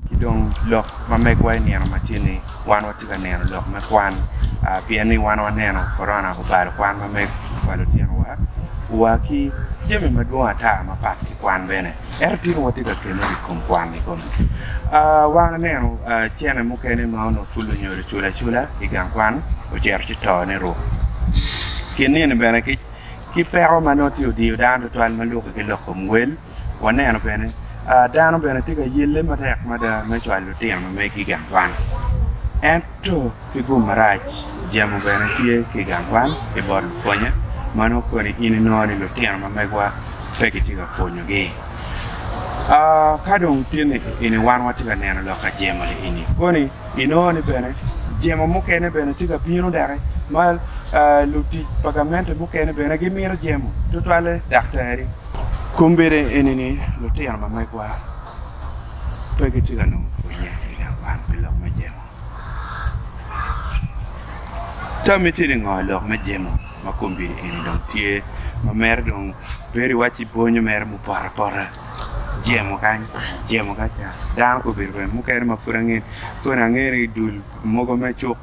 Ki dong lok ma megwa i nino matye-ni, wan watye ka neno lok me kwan pien ni wan waneno korona obalo kwan ma meg pa lutinowa wa ki jami madwong ata mapat ki kwan bene. Ento tika watye ka kemere i kom kwan-ni koni? Wan waneno cene mukene ma onongo pud lunyodo cula cula i gang kwan ocito ci to ni ruk. Kin nino bene ki peko ma nongo tye odiyo dano tutwal ma lukke ki lok kom wel. Waneno bene dano bene tye ka yelle matek mada me cwalo lutino megi i gang kwan. Ento ki gum marac, jemo bene tye ki i gang kwan ki bot lupwonye ma nongo koni in inongo ni lutino ma megiwa pe gitye ka pwonyogi. Ka dong tye ni eni wan watye ka neno lok ka jemo-ni eni koni? Ginongo ni bene jemo mukene bene tye ka bino doki ma lutic pa gamente mukene bene gimito jemo, tutwalle daktari. Kombeddi eni ni lutino ma megwa pe gitye ka nongo pwonnye i nge kwan pi lok me jemo. Tammi tye ningo i lok me jemo ma kombeddi eni dong tye ma mere dong bedo iwacci bwonyo mere mupoto apota? jemo kany, jemo kaca, dano pe obedo kwede, mukene ma pud ange koni ange ni dul mogo me cuk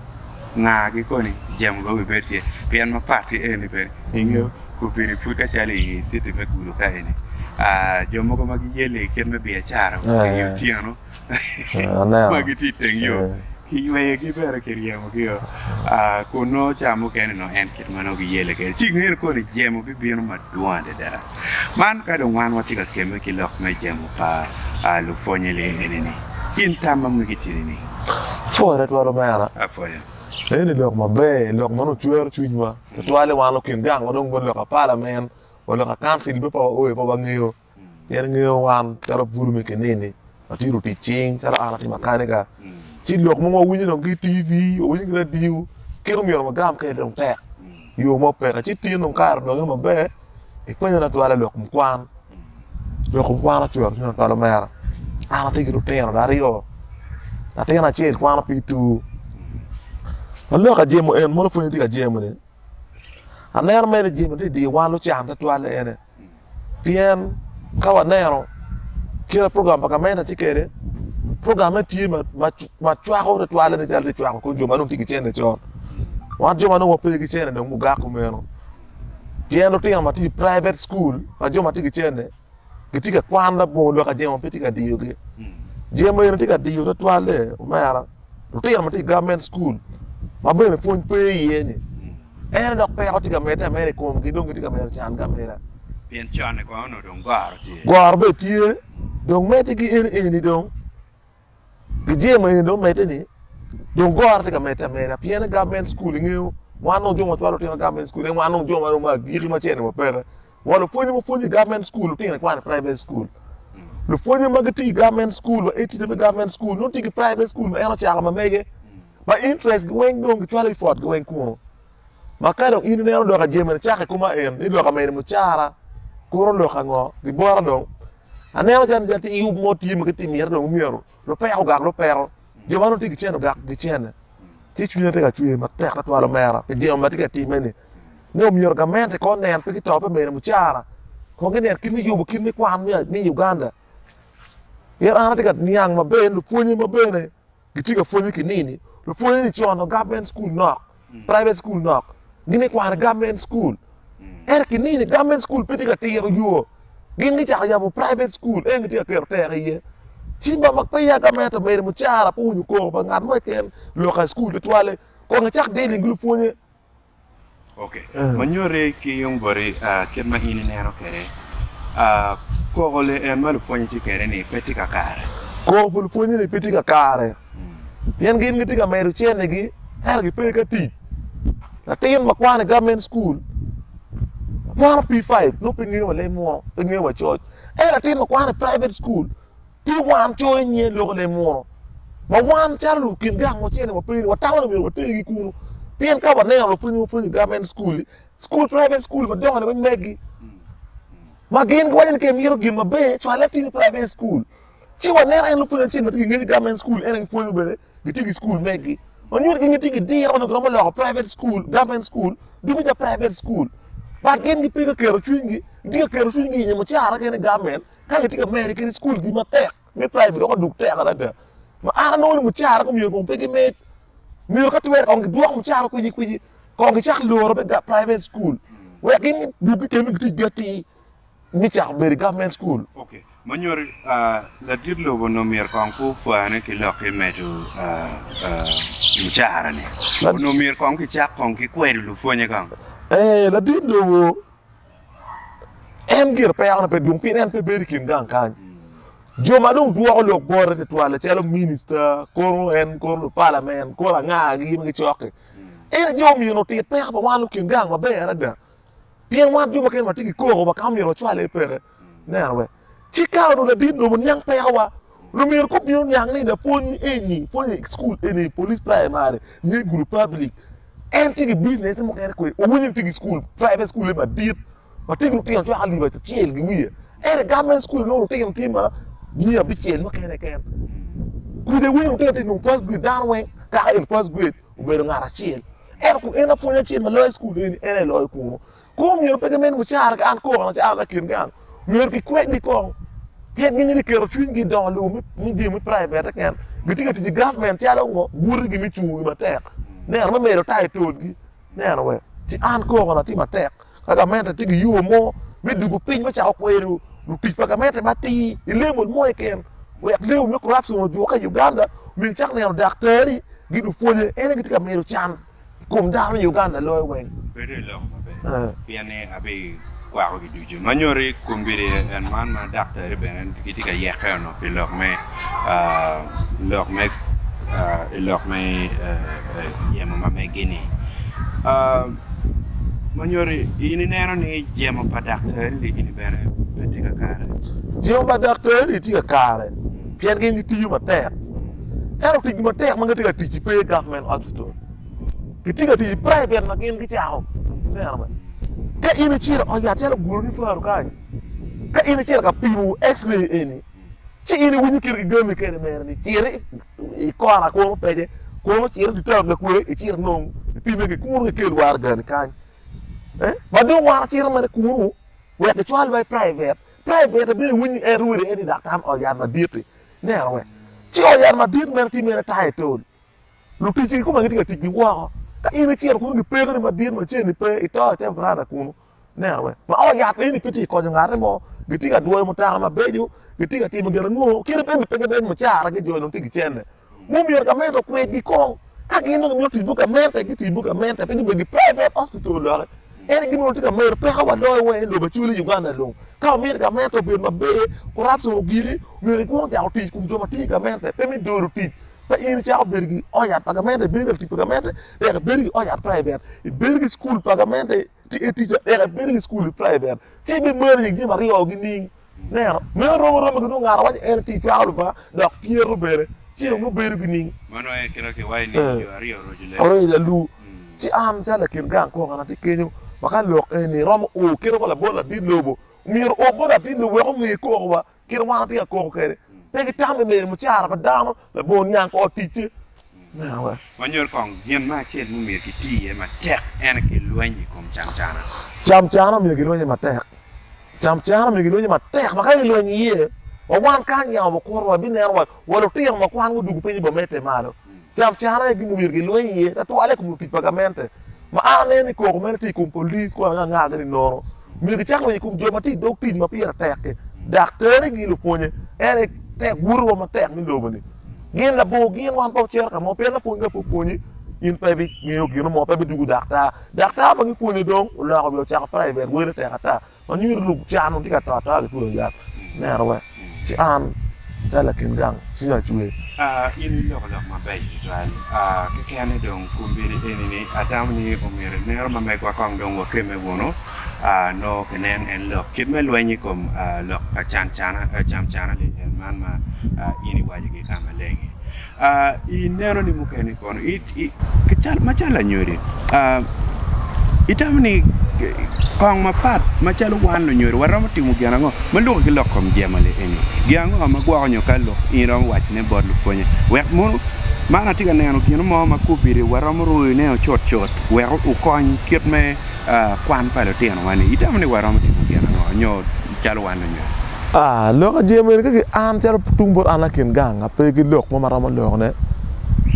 ngagi koni jemo bene wi bed tye pien mapat ki eni bene ingeyo kobedi pud kacalo i city me gudo ka eni jo mogo ma giyelle kit me biacara obedo i otyeno. ma gitye i teng yo, kiyweyogi bene, kiryemogio, kun nongo ca mukene nongo en kit ma nongo giyelle kwede. Ci ingene koni jemo bibino madwong adada. Man ka dong wan watye ka kemme ki lok me jemo pa lupwonnye lee eni-ni, in tam ma megi tye nining? Apwoyo twatwal omera. Apwoyo. Eni lok maber, lok ma dong cwero cwinywa, tutwale wan lukin gang ma dong wa lok pa palamen, wa lok pa kancil pe pe waoyo pe wangeyo. Pien ingeyo wan calo bur me Keneni watye lutic cing, calo an atye makaniga. Ci lok mogo wawinyo dong ki i TV, wawinyo ki i radio, kit omyero wagam kwede dong tek. Yo mo peke. Ci tin dong kare odonge maber, ipenyo ni atwala i lok kom kwan. Lok kom kwan ocwero cwinya tutwal omera. An atye ki lutino ada aryo, latin acel kwano pi tur. Aloka jemo en, mono pwony atye ka jemo-ni. Aneno mere i jemo dyedyer wa lucan twatwal en aye pien ka waneno kite ma program pa gamente tye kwede program meno tye ma cwako twatwal nen calo tye ka cwako kor jo ma dong tye ki cene con wan jo ma dong wape ki cene dong gugako meno pien lutino ma tye i private cukul pa jo ma tye ki cene. gitye ka kwan labongo dok ajemo pe tye ka diyogi. Jemo eni tye ka diyo twatwalle omera lutino ma tye i gavment cukul ma bene pwony pe iye-ni. Ene dok peko tye ka medde ameda i komgi dong gitye ka mito cangi ameda. Pien conne kono onongo dong goro tye. Goro bene tye, dong medde ki en eni dong. Gijemo eni dong omedde ni dong goro tye ka medde ameda pien government school ingeyo wan nongo jo ma wacwalo lutino government school en wan nongo jo ma romo agiki ma cene wa peke wa lupwonye ma pwonyo i government school lutino ikwane private school lupwonye ma gitye i government school wa e tica me government school nongo tye ki private school ma en ocako ma mege ma interest gi weng dong gicwalo effort gi weng kunu Ma ka dong in ineno dok ajemina cako i kuma en ni dok ameni mucara, kuro lok ango? Gibora dong. Aneno calo ja ti yub mo tye ma giti mite dong myero lupeko ogak lupeko. Jo ma dong ti gicen ogak gicene. Ci cwinya ti ka cwer matek twatwal omera pi jemo ma ti ka timme-ni. Ni omyero gamente kong onen pe gito pi mene mucara. Kong ginen kit me yubo kit me kwan me Uganda. Pien an ati ka niang maber ni lupwonye ma bene gitye ka pwonye ki nini lupwonye ni con government school nok private school nok gin ni kwano government school ere ki nini government school pe tye ka tiro yo gin gicako yabo private school en gitye ka keto teko iye ci ma ma pe ya government omedo mucara pe winyo koko pa ngat mo keken lok i school tutwale kong icak dealing ki lupwonye Ok, ma nyoti ki yung boti kit ma in ineno kwede, koko en ma lupwonye tye kwede ni pe tye kakare. Koko pa lupwonye ni pe tye kakare, pien gin gitye ka medo cennigi ento gipe ka tic. Latin ma kwano i government school kwano P5 nongo pe ngeyo wa leb munu, pe ngeyo wa coc. Ento latin ma kwano i private school Pi wan coyo i nyen lok lem munu, ma wan calo lukin gang ma ocele ma peri watamo ni myero watergi kunu, pien ka waneno lapwony ma pwonyo i gavment school-li, school private school madongo-ni weng megi, ma gin giwaco ni ka imito gin maber cwal latini i private school, ci waneno en lapwony acel ma tye ki ngec i gavment school en aye pwonyo bene gitye ki school megi, ma nyuto ni gin gitye ki diro ma nongo giromo loko private school, gavment school dugo ca private school, but gin gipe ka keto cwinygi, gitye ka keto cwinygi i nyo mucara kene i gavment. Ka gitye ka mere kit skulgi matek me praimari dok odug tek adada ma an anongo ni mucara gumyero kong pe gimed, myero ka twere kong gidwok mucara kwici kwici kong gicak loro me private school wek gin gidug gikemme giticgi atir me cako bedo i government school. Ma nyuto ladit lobo onongo myero kong pe opwane ki lok ki medo mucara-ni. Onongo myero kong gicak kong gikwedo lupwonye kong. Ee, ladit lobo. En gire pekone pe dwong pien en pe bedo i kin gang kany. Jo ma dong dwoko lok bote tutwal calo minista, kono en, kono lupalamen, kono angagi ma gicokki. En ajo omiyo otit peko pa wan lukin gang maber adada. Pien wan jo ma kene watye ki koko wa ka myero wacwal iye peke. Neno wek. Ci ka onongo ladit dong oniang pekowa, lumira kop bino niang ni lapwony eni pwonyo i cukul eni, polis praimari, nge gudo public, en tye ki bicinece mukene kwe, owinyo ni tye ki cukul, private cukule madit ma tye ki lutino cwaka alip acel ki wiye, ento i government cukul inongo lutino tye ma miya abicel mukene keken. Kudi iwinyo lutino tye dong first grade, dano weng kaka en first grade obedo ngat acel. Ento kun en lapwony acel ma loyo i cukul eni, en aye loyo kunu. Kong omyero pe ginen mucara ka an koko an acara me kin gang. Myero gikwedgi kong pien gin ni giketo cwinygi i dongo lobo me jami me private keken. Gitye ka tic i government calo ngo guti gi me cungo gi matek. Neno me medo tayo tolgi. Neno we ci an koko na tye matek ka gamente tye gi yo mo me dugo piny me cako kwero lutic pa gamente matir i level mo keken wek level me corruption ojuke i Uganda myero icak neno daktari gi lupwonye en aye gitye ka medo can. Kom dano i Uganda loyo weng. Bedo i lok maber pien ni abikwakogi ducu ma nyoti kombeddi en man ma daktari bene gitye ka yeke onongo pi lok me lok me i lok me jemo ma megi-ni. Ma nyoti in ineno ni jemo pa daktari gini bene pe tye kakare? Jemo pa daktari tye kakare pien gin gitiyo matek. Ento tic matek ma gitye ka ticci pe i government hospital. Gitye ka tic i private ma gin gicako. Ineno bene. Ka in icito ot yat calo Guruni Faro kany, ka in icito ka pimo X-ray eni, ci in iwinyo kit gigami kene mere ni cit i kona kunu pece, kunu cit i town ka kwe, icit nong ipime ki kunu kikel wargani kany. Eh? Ma dong wan acito mere kunu wek gicwalwa i private. Private bene iwinyo en rwede en i daktar ot yat madit-ti. Neno wek ci ot yat madit meno tye mere tayo tol. Luticci kikome gitye ka tic giwoko. Ka in icito kunu gipekoni madit ma ceni pe, ito i te varanda kunu. Neno wek ma ot yat eni pe tye ka konyo ngate mo. Gitye ka dwoyo mutoka mabeco, gitye ka timo gin ango? Kite pe gipe gideny mucara gi jo dong tye ki cente. Mom myero gamente okwedgi kong. Ka gin dong gimito tic bot gamente, giti bot gamente pe gibedo gi private hospital doki. En aye onongo tye ka mero peko waloyo wa en lobo Acholi, Uganda dong. Ka wamito gamente obed maber, corruption ogiki, myero gikwong cako tic ikom jo ma tye i gamente, pe me dolo tic. Pe in icako bedo ki ot yat pa gamente, ibedo ki latic pa gamente, dek ibedo ki ot yat private, ibedo ki cukul pa gamente, ti etica dek ibedo ki cukul private. Ci ibimalo nying jo maryo-ni nining? Neno, meno romo romi ki nongo ngat awaco en atir cwako luba dok tyero bene ci dong nongo bedo ki ning. Mano aye kit akiwa i ning jo aryo oroco leb. Oroco lalu. Ci an calo lakin gang kong an atye kenyo ma ka lok eni iromo o kit wa labot ladit lobo, myero o bot ladit lobo wek onge koko wa kit wan watye ka koko kwede. Pe gitamo i neno mucara pa dano Labongo niang kor ticce me awa. Wanyut kong gin me acel ma omyero kiti iye matek, en aye ki lweny i kom camcana. Camcana omyero kilwenye matek. Camcana omyero kilwenye matek ma ka kilweny iye, wa wan kany yamo bikuto wa bineno wa, wa lutino ma kwanwa odwogo piny i bomette malo. Camcana aye gin ma omyero kilweny iye twatwal i kom lutic pa gamente. Ma aneno ni koko meno tye i kom police kun angangage ni nono myero gicak lweny i kom jo ma tye i dog tic ma pire tek-ki, daktere ki lupwonye. En aye tek wotowa matek me lobo-ni. Gin labor gin wan pe wucito ka mo pien lapwony ka pe opwonyi, in pe ibingeyo gino mo, pe ibidwogo daktar. Daktar ma gipwonyo dong oloko wiye ocako private, wele tek ata. Ma nyuto ni can ma tye ka to ata kitweyo yat neno wek ci an acal lakin gang ci acwe. A In iloko lok mabeco tutwal. A Kekene dong kombedi eni ni atamo ni omyero inero ma megwa kong dong wakemme wunu a nongo kinen en lok kit me lweny i kom a lok pa can cana a cam cana lil en man ma a in iwaco gi ka maleng-ngi. Ineno ni mukene kono macalo anyodo itamo ni kong mapat macalo wan lunyodo waromo timo gin ango ma luki ki lok kom jemoli eni? Gin ango ma gwoko nyo ka lok in iromo wacone bot lupwonye wek mono man atye ka neno gin mo ma kobeddi waromo rwoyone o cut cut wek okony kit me kwan pa lutinowa ni? Itamo ni waromo timo gin ango nyo calo wan onyo. Aa, lok a jemo eni ka ki an calo tung bot an lakin gang a pe ki lok mo ma romo lokne,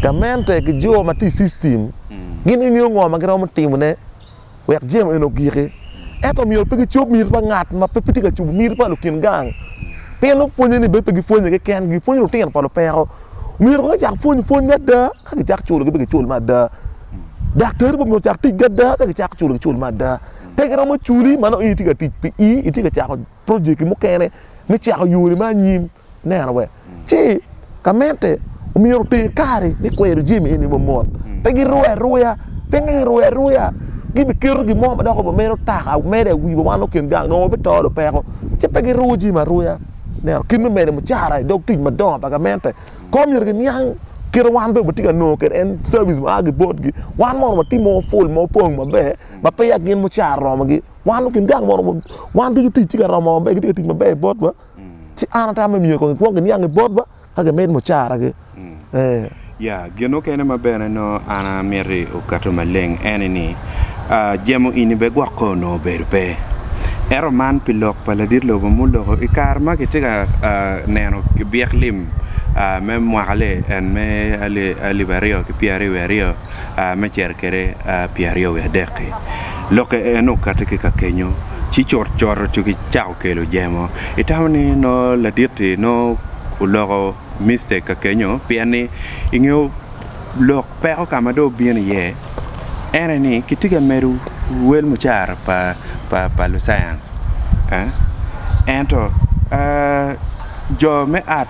gamente ki jo ma tye i system gin gi ngeyo ngo ma gi romo timo ne wek jemo eni ogiki. Ento myero pe gi cob miti pa ngat ma pe tye ka cobo miti pa lukin gang, pien nongo pwonye ni bene pe gi pwonye ki ken gi, gi pwonyo lutino pa lupeko. Myero kono gicak pwony pwony me ada ka gi cak culo gi be gi cul me ada. Daktari bene myero ocak tic ki ada ka gi cak culo gi cul me ada. pe giromo culi ma nongo in itye ka tic pi i itye ka cako projekki mukene me cako yori me anyim neno we ci ka mente omyero oter kari me kwero jami eni mamot mm. pe girue aruya pinge girue aruya gibiketo gin mo ma dok obo medo taka medo awi wa wan okin gang nongo bito do peko ci pe giruwo jami aruya neno kit me medo mucara i dog tic madongo pa gamente ko myero giniang kit wan be watye ka nongo kede en service ma agi botgi wan mono watimo full ma opong maber ma peya gin mucar romogi wan gin gang mo romo wan ducu tic tye ka romo maber gitye ka tic maber botwa ci an atamo me miyo kongi kwongi niang i botwa ka gimed mucaragi ee Ya, gin mukene ma bene nongo an amiti okato maleng ene ni, aa, jemo ini bene gwok kong onongo obedo pe. Ento man pi lok pa ladit lobo muloko i kare ma kitye ka neno byek lim aa me mwaka li en me ali alip aryo ki pyeraryo wiye aryo, me cito kwede pye aryo wiye adek-ki. Lokke en okato ki ka kenyo ci cutcut ci kicako kelo jemo. Itamo ni nongo ladit-ti nongo oloko mistake ka kenyo pien ni i nge lok peko ka ma dong obino iye ene ni kitye ka medo wel mucara pa lucayan. Ento jo me art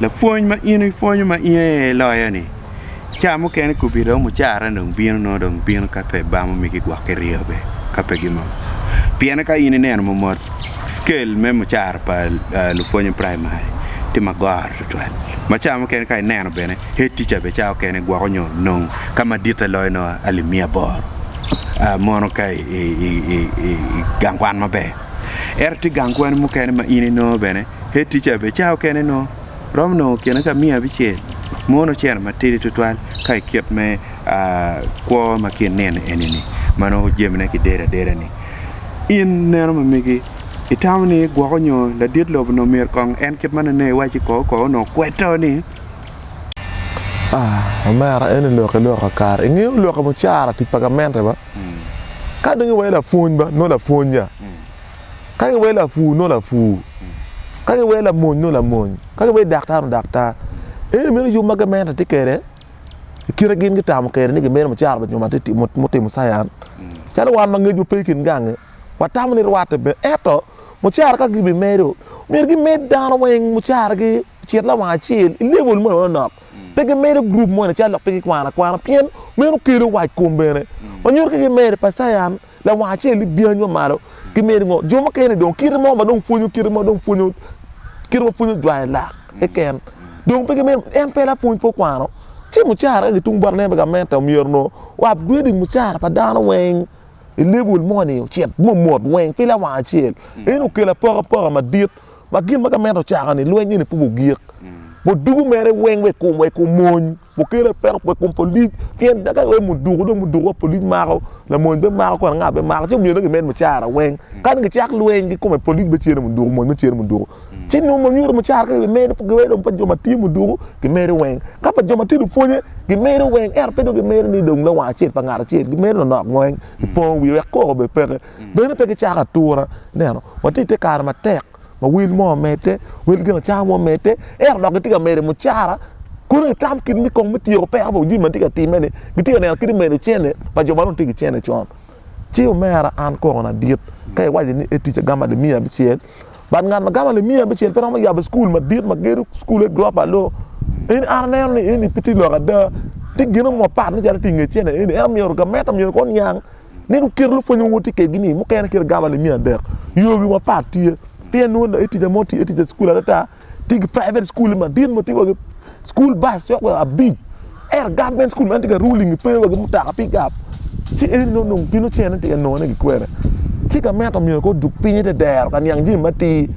lapwony ma in ipwonyo ma in aye iloyo ni ca mukene kobbi romo ocara ni dong bino nongo dong bino ka pe ibamo migi gwok ki ryeo bene ka pe gimoko pien ka in ineno momot cikel me mucara pa lupwony me praimari tye ma goro tutwal ma ca mukene ka ineno bene hed tica bene ca mukene gwoko nyo nongo ka maditte loyo nongo alip miya aboro mono ka igang kwan maber. Ento tye gang kwan mukene ma in inongo bene head teacher bene ca okene nongo romo nongo kine ka miya abicel mono oceno matidi twatwal ka i kit me kwo ma ki ineno eni ni ma nongo jamine ki dedo adeda ni in neno ma megi itamo ni gwoko nyo ladit lobo onongo myero kong en kit ma nene iwaci koko koko onongo kweto ni omera eni lok iloko kakare ingeyo lok mucara tic pa gamente ba. Ka dong iwee lapwony ba, nongo lapwony-ya. Ka iwee lapur, nongo lapur. Ka iwee lamony, nongo lamony. Ka iwee daktar, nongo daktar. Ento meno yub ma gamente tye kwede i kite ma gin gitamo kwede ni gimito mucara pa jo ma gutimo cayan. Calo wan ma ngecwa pe i kin gangi, watamo ni rwatte ber. Ento mucara ka gibimedo, myero gimed dano weng mucaragi. Cit lawang acel i level moni manok. Pe gimedo group moni calo lok pe gikwano akwana pien meno kelo wac kom bene. Wanyuto ki gimedo pa Science lawang acel ni byanyi wa malo gimedo ngo. Jo mukene dong kite mo ma dong pwonyo kite mo dong pwonyo kite ma pwonyo jwayo lak keken. Dong pe gimedo en pe lapwony pe okwano ci mucara ka gitung bot ne pa gamente omyero nongo wa upgrading mucara pa dano weng i level moni ocit mo mot weng pe lawang acel. Eno okelo apokapoka madit. Ma gin ma ka meno ocaka ni lweny eni pud ogik, bot dugu mere weng wek kum wek omony mukel peko wek kum polic pien ka wek muduku dong muduku wa polic mako lamony be mako kor anga be mako ci omyero dong gimed mucara weng kani gicak lweny ki kome polic me cere muduku mony me cere muduku ci nongo ma nyuto mucara ka be medo giweko dong pa jo ma tye muduku gimedo weng ka pa jo ma tye lupwonye gimedo weng ento pe dong gimedo ni dong lawang acel pa ngat acel gimedo nonok weng gipongo wiye wek koko bene peke Bene pe gicako atura. Ineno? Watye i te kare matek ma wel mo omedde, wel gin acama mo omedde, ento dok gitye ka medo mucara. Kono gitam kit me kong me tyeko peko pa jami ma tye ka timme-ni. Gitye ka neno kit me medo cene pa jo ma dong tye ki cene con. Ci omera, an koko ladit, ka iwaco ni etic agamo alip miya abicel, but ngat ma gamo alip miya abicel pe romo yabo cukul madit ma gedo cukule gurofa aryo. Eni an aneno ni eni pe tye lok ada. Tye gin mo mapat macalo tye i nge cene eni. En omyero gamente omyero kong oniang. Ni luket lupwony ma woti kegi ni mukene kit gaba limi adek. Yogi mapat tye. Pien nwo da etica mo tye etica school adata tye ki private school ma dit mo tye wa ki school bus cok wa abic. Ero government school man tye ka ruling pe wa ki mutaka pick up. Ci eni no nung pino cen ni tye ka nongo ne ki kwene. Ci ka meta myero ko duk pinyi te dero ka niang jimi matir.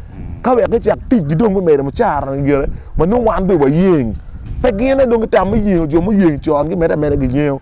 Ka wek gicak tic gi dong me medo mucara na gire ma nung wan be wayeng. Pe gine dong gitamo yengo jo muyeng con gimede ameda giyengo.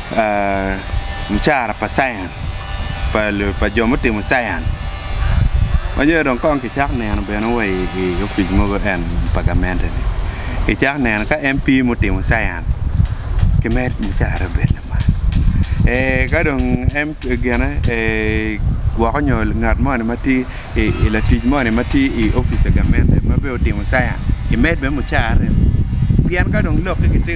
mucara pa science pa jo mutimo science ma nyo dong kong kicako neno bene wa i opic mogo en pa gamente ni kicako neno ka MP mutimo science kimed mucara obed lamal ee kadong MP gine ee woko nyo ngat moni matye I latic moni ma tye i opic pa gamente ma bene otimo science imed bene mucarre pien ka dong loki kitye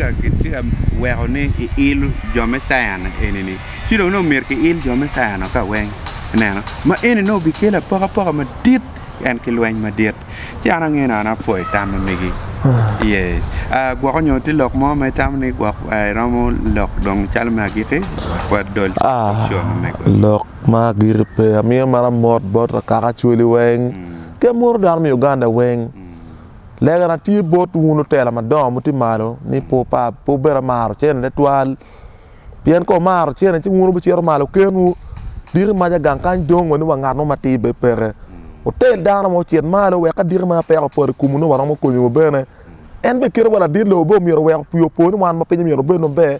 ka weko ni iil jo me science eni ni ci dong nongo myero ki il jo me science wa ka weng ineno ma eni nongo bi kelo apokapoka madit en ki lweny madit ci an ange nongo apwoyo tam ma megi yee gwoko nyo tye lok mo ma itamo ni gwok iromo lok dong calo me agiki wa dol lok Ma agikki pe, amiyo mara mot bot akaka Acholi weng ki amwoto dano me Uganda weng. Legana tye bot wun lutela madongo muti malo ni pe wupa, pe wubed amaro cene twatwal. Pien ka wumaro cene ci wun wubicito malo kenwu, diki maca gang kany dong wa ni wa ngat mo matir bene peke. Wutel dano mo ocit malo wek ka diki maca peko opoto i komwu nongo waromo konyowu bene. En bene kite wa ladit lobo bene omyero owek opii opo ni wan ma piny omyero obed maber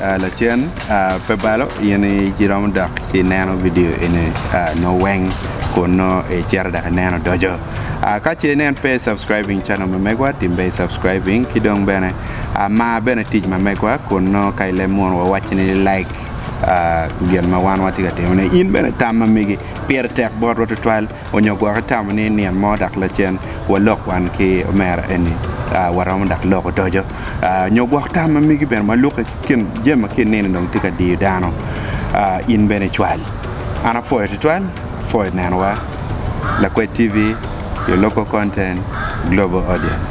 Lacen pe balo in iromo dok ci neno vidio eni nongo weng kun nongo icito dok ineno odoco. Ka ce nen pe i subscribing channel me megwa tim be i subscribing ki dong bene mar bene tic ma megwa kun nongo ka ileb munu wa wacci ni like gin ma wan watye ka timone in bene tam ma megi pire tek botwa tutwal. Onyo gwok itamo ni nino mo dok lacen walok wan ki omera eni waromo dok lok odoco. Onyo gwok tam ma megi bene ma luki ki kin jami ma kin nino dong tye ka diyo dano. In bene icwal. An apwoyo twatwal for i nenowa Lakwed TV, your local content, global audience.